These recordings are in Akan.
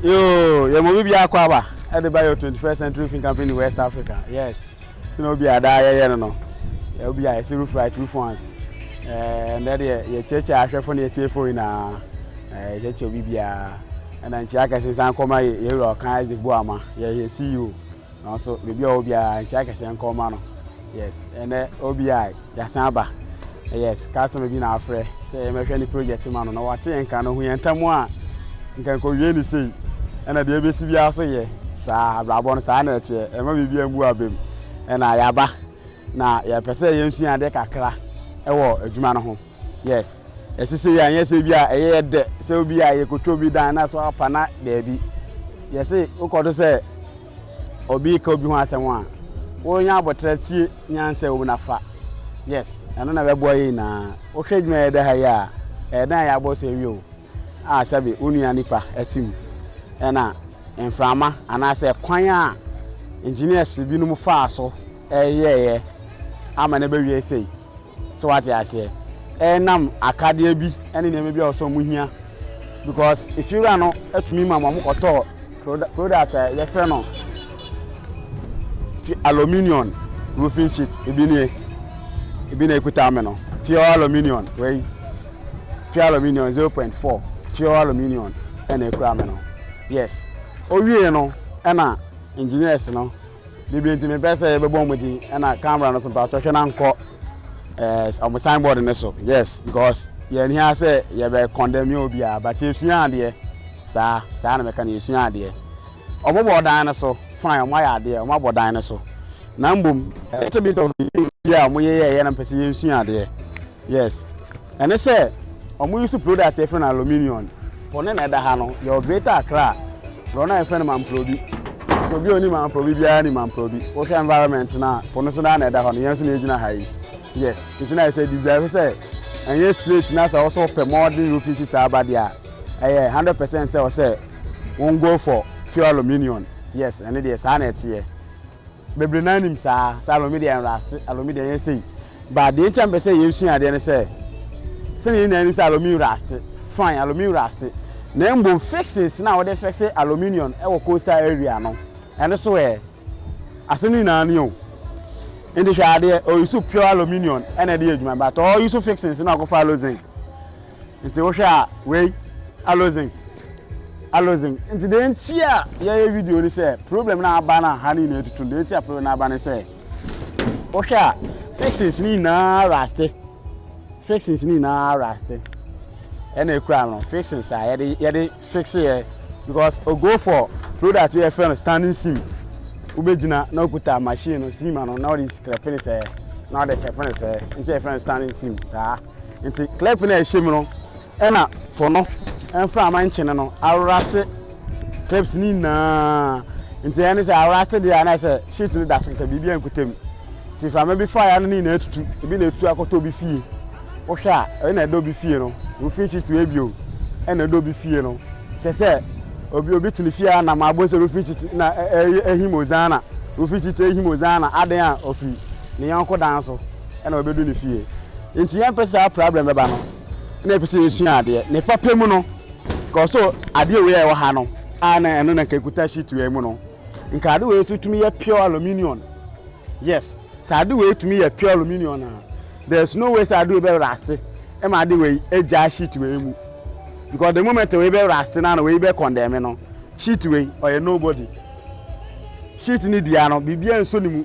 Yoo yɛ ma obi bia akɔ aba ɛde ba yɛ 21st century fin campaign in west africa yes ti na obi a daa yɛyɛ no no yɛ obi a yɛsi roof right roof once ɛɛ ndɛ deɛ yɛkyerɛkyerɛ ahwɛfo ne yɛtiefo nyinaa ɛɛ yɛkyerɛkyerɛ obi biara ɛna nkyia kɛse san kɔma yɛwura ɔkan isaac boama yɛyɛ ceo Nanso baabi a ɔwɔ biara nkyɛ akɛseɛ nka ɔma no yes ɛnɛ OBI yɛasan aba yes customer bi na afrɛ sɛ yɛmɛhwɛ ne project ma no na wate yɛn nka no hu yɛn ntam a nka nkɔwie ne sei ɛna deɛ ɛbɛsi biara so yɛ saa abrabɔ no saa na ɛteɛ ɛma biribi ambu abam ɛna yɛaba na yɛpɛ sɛ yɛnsua adeɛ kakra ɛwɔ adwuma no ho Yes ɛsesɛ yɛ anyɛ sɛ bi a ɛyɛ yɛ dɛ sɛ obi a yɛ kɔtwa obi dan na so apa na daabi yɛ se wokɔto sɛ obi ka obi ho asɛm a wonya abɔtra tie nyansa wom na fa yes ɛno na bɛboa yɛ nyinaa wohwɛ adwuma yɛ dɛ ha yi a ɛyɛ dan yɛ abɔ so awie o a sɛbe wo nua nipa ɛte mu ɛna mframa anaasɛ kwan a engineers binom faa so ɛyɛɛyɛ ama no bɛwie sei So wate aseɛ? Ɛnam akadeɛ bi ne nneɛma bi a ɔsɛ wɔn hia because efiewura no tumi ma wɔn kɔtɔ product a yɛfrɛ no aluminium roofing sheet ebi nie ebi na ekuta mi no pure aluminium wei pure aluminium zero point four pure aluminium ɛna ekura mi no yes owie no ɛna engineers no. biribi nti mepɛ sɛ yɛbɛbɔ wɔn din ɛna camera no so mpatsɔ hwɛ na nkɔ ɛɛ eh, wɔn signboard no so yes because yɛn hia sɛ yɛbɛ condemn yɛ obiara but yɛsua adeɛ saa saa na mɛka no yɛsua adeɛ wɔn bɔ ɔdan no so fine wɔn ayɛ adeɛ wɔn abɔ dan no so na mbom ɛkyɛ bi tɔ bi a wɔn yɛ yɛ yɛ na mpɛ sɛ yɛnsua adeɛ Yes ɛne sɛ ɔmo use product yɛfrɛ no aluminium. Po ne na ɛda ha no yɛwɔ greater Accra borɔ no a yɛfrɛ no Mamprobi nti obi a ɔni Mamprobi biara ni Mamprobi wohwɛ environment no a po no so naa na ɛda hɔ no yɛn nso na yɛgyina ha yi yes nti na ɛsɛ deserve sɛ ɛnyɛ slate na sɛ wɔsɛ wɔpɛ modern roofing sheet aba deɛ a ɛyɛ hundred percent sɛ wɔsɛ wɔn go for pure aluminium yes ɛne deɛ saa na ɛteɛ Bebree no ara nim saa, sɛ Alɔmi deɛ ɛnra ase, Alɔmi deɛ ɛnyɛ sei. But deɛ nti a mepɛ sɛ yɛsua adeɛ ne sɛ, sɛdeɛ yɛn nyinaa nim sɛ Alɔmi nra ase, fine, Alɔmi nra ase, na mmom fixings no a wɔde fixe aluminium wɔ coastal area no, ɛno so ɛ? Ase no nyinaa nie o. Nti hwɛ adeɛ, ɔuse pure aluminium na ɛde yɛ adwuma, but ɔuse fixings no akɔfa alozink. nti wohwɛ a wei alozin alozin nti deɛ nti a yɛyɛ video ni sɛ problem na aba na ha ne nyinaa tutu deɛ nti a problem na aba ne sɛ wohwɛ a fixings ne nyinaa raste fixings ne nyinaa raste ɛna ekura no fixings a yɛde yɛde fixe yɛ because o go for product yɛ fɛ no standing seam wobɛgyina na okuta machine no seam ano na ɔde sikirɛpene sɛ na ɔde kɛpene sɛ nti yɛ fɛ no standing seam saa. Nti clip no a ɛhyɛ mu no ɛna po no mframa nkyene no awrase clips no nyinaa nti ɛne sɛ awrase deɛ a na sɛ sheet no da so kɛkɛ biribi ankutam nti mframa bi fa ya no ne nyinaa tutu ebi na etu akɔtɔ obi fie wohwɛ a ɛyɛ na ɛda obi fie no wofin sheet wɔ ebio ɛna ɛda obi fie no kyɛ sɛ obi obi tene fie a nam abɔ sɛ wofin sheet na ɛyɛ ehim ozana wofin sheet ehim ozana adan a ofiri ne yɔnko dan so. ɛna ɔbɛdu ne fie nti yɛn pɛ saa problem bɛba no na yɛpɛ sɛ yɛsua adeɛ ne papa mu no kɔso adeɛ wei a ɛwɔ ha no a na ɛno na nka ɛkuta sheet wei mu no nka ade wei nso tumi yɛ pure aluminium yes sɛ ade wei tumi yɛ pure aluminium na there is no way sɛ ade wei bɛ raste ɛma ade wei ɛgya sheet wei mu because the moment wei bɛ raste na na wei bɛ condemn no sheet wei ɔyɛ nobody sheet ne dua no biribiara nso ne mu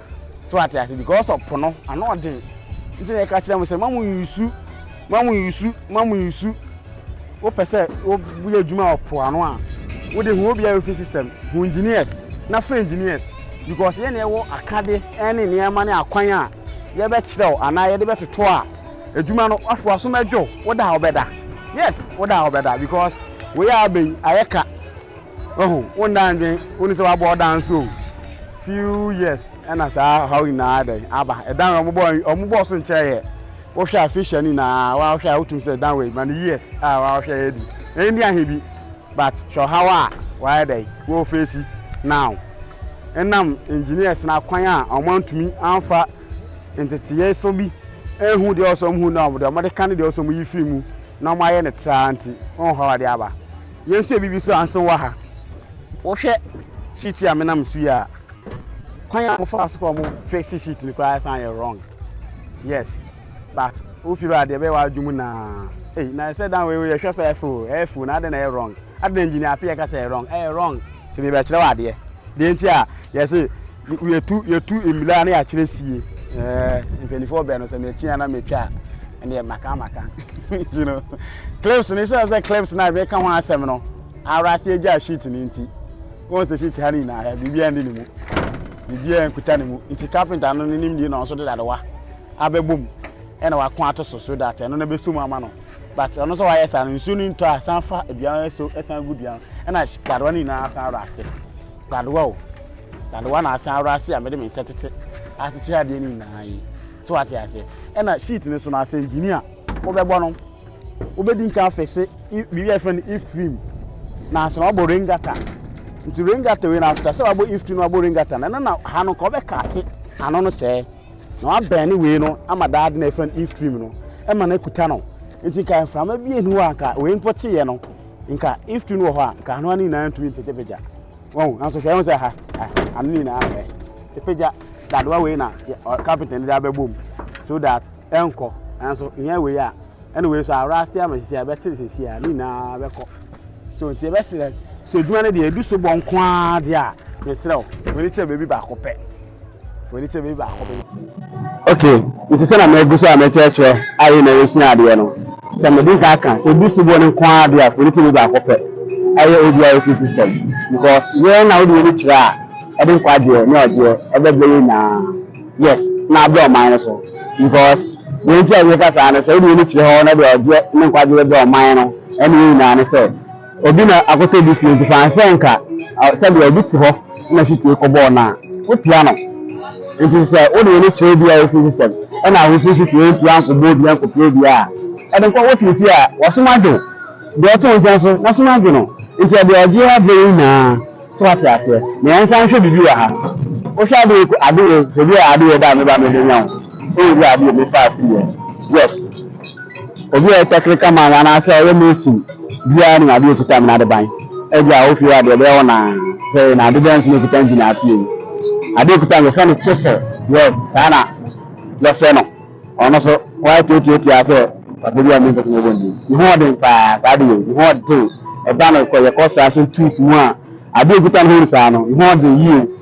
So wate ase? Because ɔpo no, ano ɔden. Nti na yɛka kyerɛ mo sɛ, ma mo nyusu, ma mo nyusu, ma mo nyusu. Wopɛ sɛ woyɛ adwuma wɔ po ano a, wode hu obi a ofi system, hu engineers, na frɛ engineers. Because yɛn na yɛwɔ akade ne nneɛma ne akwan a yɛbɛkyerɛw anaa yɛde bɛtoto a adwuma no afoa so mɛdwo, woda a wobɛda. Yes, woda a wobɛda because wei a abɛn ayɛ ka. Wahu, wonda ndwen, wonni sɛ wabɔ ɔda nso o, few years ɛna saa ɔhaw nyinaa dɛn aba, ɛdan wei ɔmo bɔɔ, ɔmo bɔɔ so nkyɛɛ yɛ, wohwɛ a fish ɛne nyinaa waa wohwɛ a wotum sɛ dan wei ma no years a waa wohwɛ yɛ di, ɛyɛ ndi ahe bi, but hwɛ ɔhaw a waayɛ dɛn woo feesi now, ɛnam engineers no akwan a ɔmo antumi amfa nteteyɛ so bi anhu deɛ ɔsɛ ɔmo hu na ɔmo deɛ ɔmo de ka ne deɛ ɔsɛ ɔmo yi firi mu na ɔmo ayɛ ne traa nti, wohu ɔhaw a ɛde aba. Yɛnhyɛ biribi so ansa wɔ ha. Wohwɛ sheet yi a menam so yi a, kwan a mofaa so kɔ mo fixe sheet no koraa san yɛ wrong. Yes, but wofi hɔ a deɛ ɛbɛyɛ w'adwene mu na ei na ɛsɛ dan wei yɛhwɛ so ɛfo ɛfo na adɛn na ɛyɛ wrong adɛn engineer apɛ yɛka sɛ ɛyɛ wrong ɛyɛ wrong. Sɛ mebɛkyerɛ wo adeɛ deɛ nti a yɛse Yɛtu yɛtu mmila na yɛakyerɛ sie. Ɛɛ mpanimfoɔ bɛn no sɛ mɛtia na mɛtwa a ɛneɛ maka maka. Nti no clips no sɛ sɛ clips no a mɛka ho asɛm no ara ase agya sheet no nti. Wɔn sɛ sheet ha no nyinaa hɛ biribiara ndi ne mu. Biribiara nkuta ne mu. Nti carpenter no ne nim die na ɔnso de dadewa abɛbɔ mu ɛna wako ato so so that ɛno na bɛso mu ama no but ɔno sɛ wayɛ saa no nsuo no ntɔ a san fa aduan so ɛsan gu duan ɛna dadewa no nyinaa san rɔ ase Dadewa o, dadewa na asen ara ase a mede me nsa tete atete adeɛ no nyinaa yi. So wate aseɛ? Ɛna sheet no so no asɛ gyini a wobɛbɔ no, wobɛdi nka afɛse biribi a yɛfrɛ no if trim na asɛ wabɔ rain gutter. Nti rain gutter wei na after sɛ wabɔ if trim na wabɔ rain gutter no, ɛno na ha no nka wobɛka ate ano no sɛɛ na wabɛn ne wei no ama daade na yɛfrɛ no if trim no ɛma no akuta no. Nti nka mframa bi ɛni hɔ a nka wei mpo teeɛ no Nka if tu no wɔ hɔ a, nka ano ano nyinaa ntumi mpegyapegya. Wahu? Nanso hwɛ, ɛho sɛ ha, ha, ano no nyinaa ɛ. Epegya dadewa wei na kapenta no de abɛbɔ mu so that ɛnkɔ. Nanso nyɛ wei a, ɛna wei so ara ase ama sisi a ɛbɛte sisi a, ne nyinaa bɛkɔ. So nti ɛbɛsrɛ sɛ adwuma no deɛ edu so bɔ nko ara deɛ a, mesrɛ wo, w'ani kyerɛ baabi baako pɛ. w'ani kyerɛ baabi baako bɛyɛ. okay nti sɛ na magu so a mɛkyerɛkyerɛ ayɛ na yɛsua adeɛ no sɛ mede nka aka sɛ ɛdu soboɔ no nko ara deɛ a foni tumi baako pɛ ɛyɛ ODIOP system because yɛn na wode w'ani kyerɛ a ɛde nkwagyeɛ ne ɔgyeɛ ɛbɛbrɛ yɛ nyinaa yes na abrɛ ɔman no so because deɛ nti a yɛka saa no sɛ wode w'ani kyerɛ hɔ na deɛ ɔgyeɛ ne nkwagyeɛ bɛbrɛ ɔman no ɛne yɛ nyinaa ne sɛ Obi na akɔtɔ obi fie nti fa no sɛ nka sɛdeɛ obi te hɔ na situe kɔbɔɔ no a, wopia no. Nti sɛ wode w'ani kyerɛ obi a ɔfiri system ɛna wofiri situe nti ankɔbɔ obi ankɔpia obi a, ɛde nkɔ wote fie a w'asom adwo deɛ ɔte wo nkyɛn nso n'asom adwo no. Nti ɛdeɛ ɔgye yɛ berɛ yi nyinaa sɛ woate aseɛ. Na yɛnsan nhwɛ biribi wɔ ha. Wohwɛ Adeye ko Adeye hwɛ bi a Adeye ba a me ba mebɛnya wo. Wohwɛ bi a Adeye mefaa firiiɛ. Yes. Obi a ɔyɛ tɛkreka man anaasɛ ɔyɛ mason biara nim adeɛ a ɛkuta amena adeban. Ebia a wofie hɔ adeɛ ɛbɛyɛ wo naa sɛ na adeban nso na ɛkuta engine afie yi. Adeɛ ɛkuta amena yɛfrɛ no chisel. Yes, saa na yɛfrɛ no. Ɔno so wɔayɛ tiatiatia sɛ papa bi a ɔmmɛmpɛ sɛ mɛbɔ ndin. Ne ho ɔden paa saa adeɛ yi. Ne ho ɔden. Ɛda no kɔ yɛ construction tools mu a adeɛ ɛkuta ne ho ni saa no. Ne ho ɔden yie.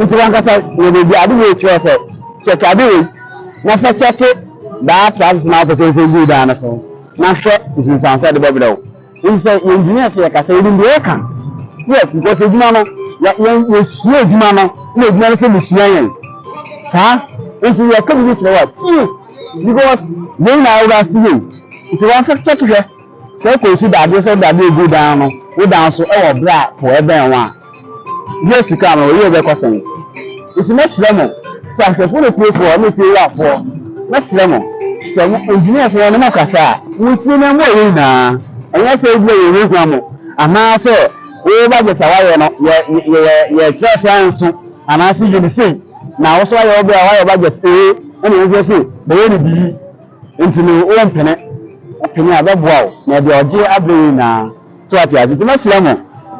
Ntsi wankasa na beebi a adze wei kyerɛ sɛ kyɛke adze wei na fa kyɛke daa trousers na wopɛ sɛ efa gu daa no so na hwɛ nsunsuanso a ɔdze bɛbrɛ wo. Ntsi sɛ yɛ engineers so yɛka sɛ yenyim dza yɛka. Yes because edwuma no yɛ yɛ yesua edwuma no na edwuma no so busua hɛn. Saa ntsi yɛka biribi kyerɛ wo a tsie because yɛn nyinaa wɔ wiase yi o ntsi wɔmfa kyɛke hwɛ. Sɛ ɛkɔ so da adeɛ sɛ wode adeɛ gu dan no wo dan so wɔ berɛ a po bɛn ho a, years to come no wo yere bɛkɔ sɛn? Nti mɛsrɛ mo sɛ ahwɛfoɔ ne atiefoɔ ne afiewurafoɔ, mɛsrɛ mo sɛ mo engineers no ne mo kasa a, montie na moayɛ nyinaa. Ɛnyɛ sɛ ebia yɛhunahuna mo anaa sɛ wo budget a woayɛ no yɛ yɛ yɛ yɛkyerɛ sɛ anso anaa sɛ yɛ ne sei na wo nso ayɛ wo berɛ a woayɛ budget ee ɛna yɛn nso yɛse bɛyɛ ne bi yi. Nti no wo mpene pene a bɛboa wo na ɛde ɔgye abrɛ yɛn nyinaa so ate ase nti mɛsrɛ mo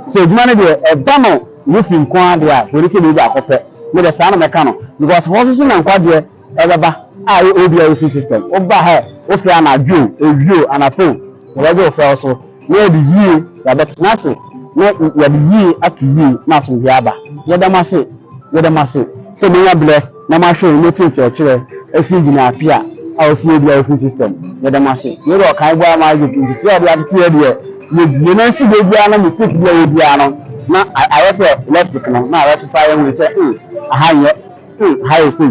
sɛ adwuma no deɛ ɛba no Nephi nko ara deɛ a hwɛni kɛnii baako pɛ me deɛ saa na mɛka no because hɔ soso na nkwagyeɛ ɛbɛba a yɛ obi a wofi system woba hɛ wofrɛ anadwo ewio anapon na wɔgye wofrɛ wo so na yɛde yie yɛabɛtena ase na yɛde yie ato yie na asomdwoeɛ aba. Yɛda mo ase, yɛda mo ase sɛ moanya berɛ na moahwɛ na moatie nkyerɛkyerɛ afiri gyinaa pia a ɔfiri yɛ biara ɔfiri system. Yɛda mo ase. Yei deɛ ɔkan boaa ma Isaac nteteɛ a ɔde atete yɛ deɛ yɛdie na nso deɛ biara no mistake bi a yɛ biara no na ayɛ sɛ electric no na rectify yɛ hui sɛ hmm aha nyɛ Hey, hi, say,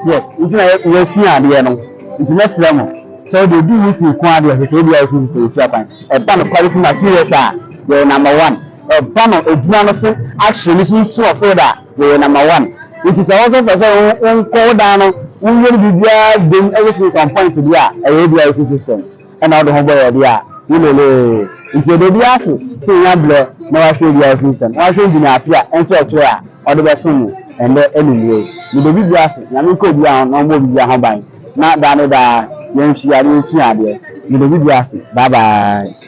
yes, nti na yɛasua adeɛ no, nti mɛsrɛ mo sɛ wode odi wo fie ko adeɛ hwehwɛ ebi a yɛfiri sista yɛtua kwan. Ɛba no quality materials a, yɛyɛ number one. Ɛba no adwuma no so ahyɛ no so nsu ɔfeed a, yɛyɛ number one. Nti sɛ wo nso pɛ sɛ wonkɔ wo dan no, woyɛ no biribiara dam ɛyɛ things on point deɛ a, ɛyɛ ebi a yɛfiri system. na wode ho bɔ yɛde a wolelee nti ɛda bi ase sɛ nya blɛ na wahwɛ bi a ɛfiri sɛm na wahwɛ gyina afe a ɛnkyɛ ɛkyerɛ a ɔde bɛso mu ɛndɛ ɛnumerɛ mede bi bi ase nyame nka obi a ho na ɔmmɔ bi bi a ho ban na daa ne daa yɛnhyia na yɛnsua adeɛ mede bi bi ase bye bye.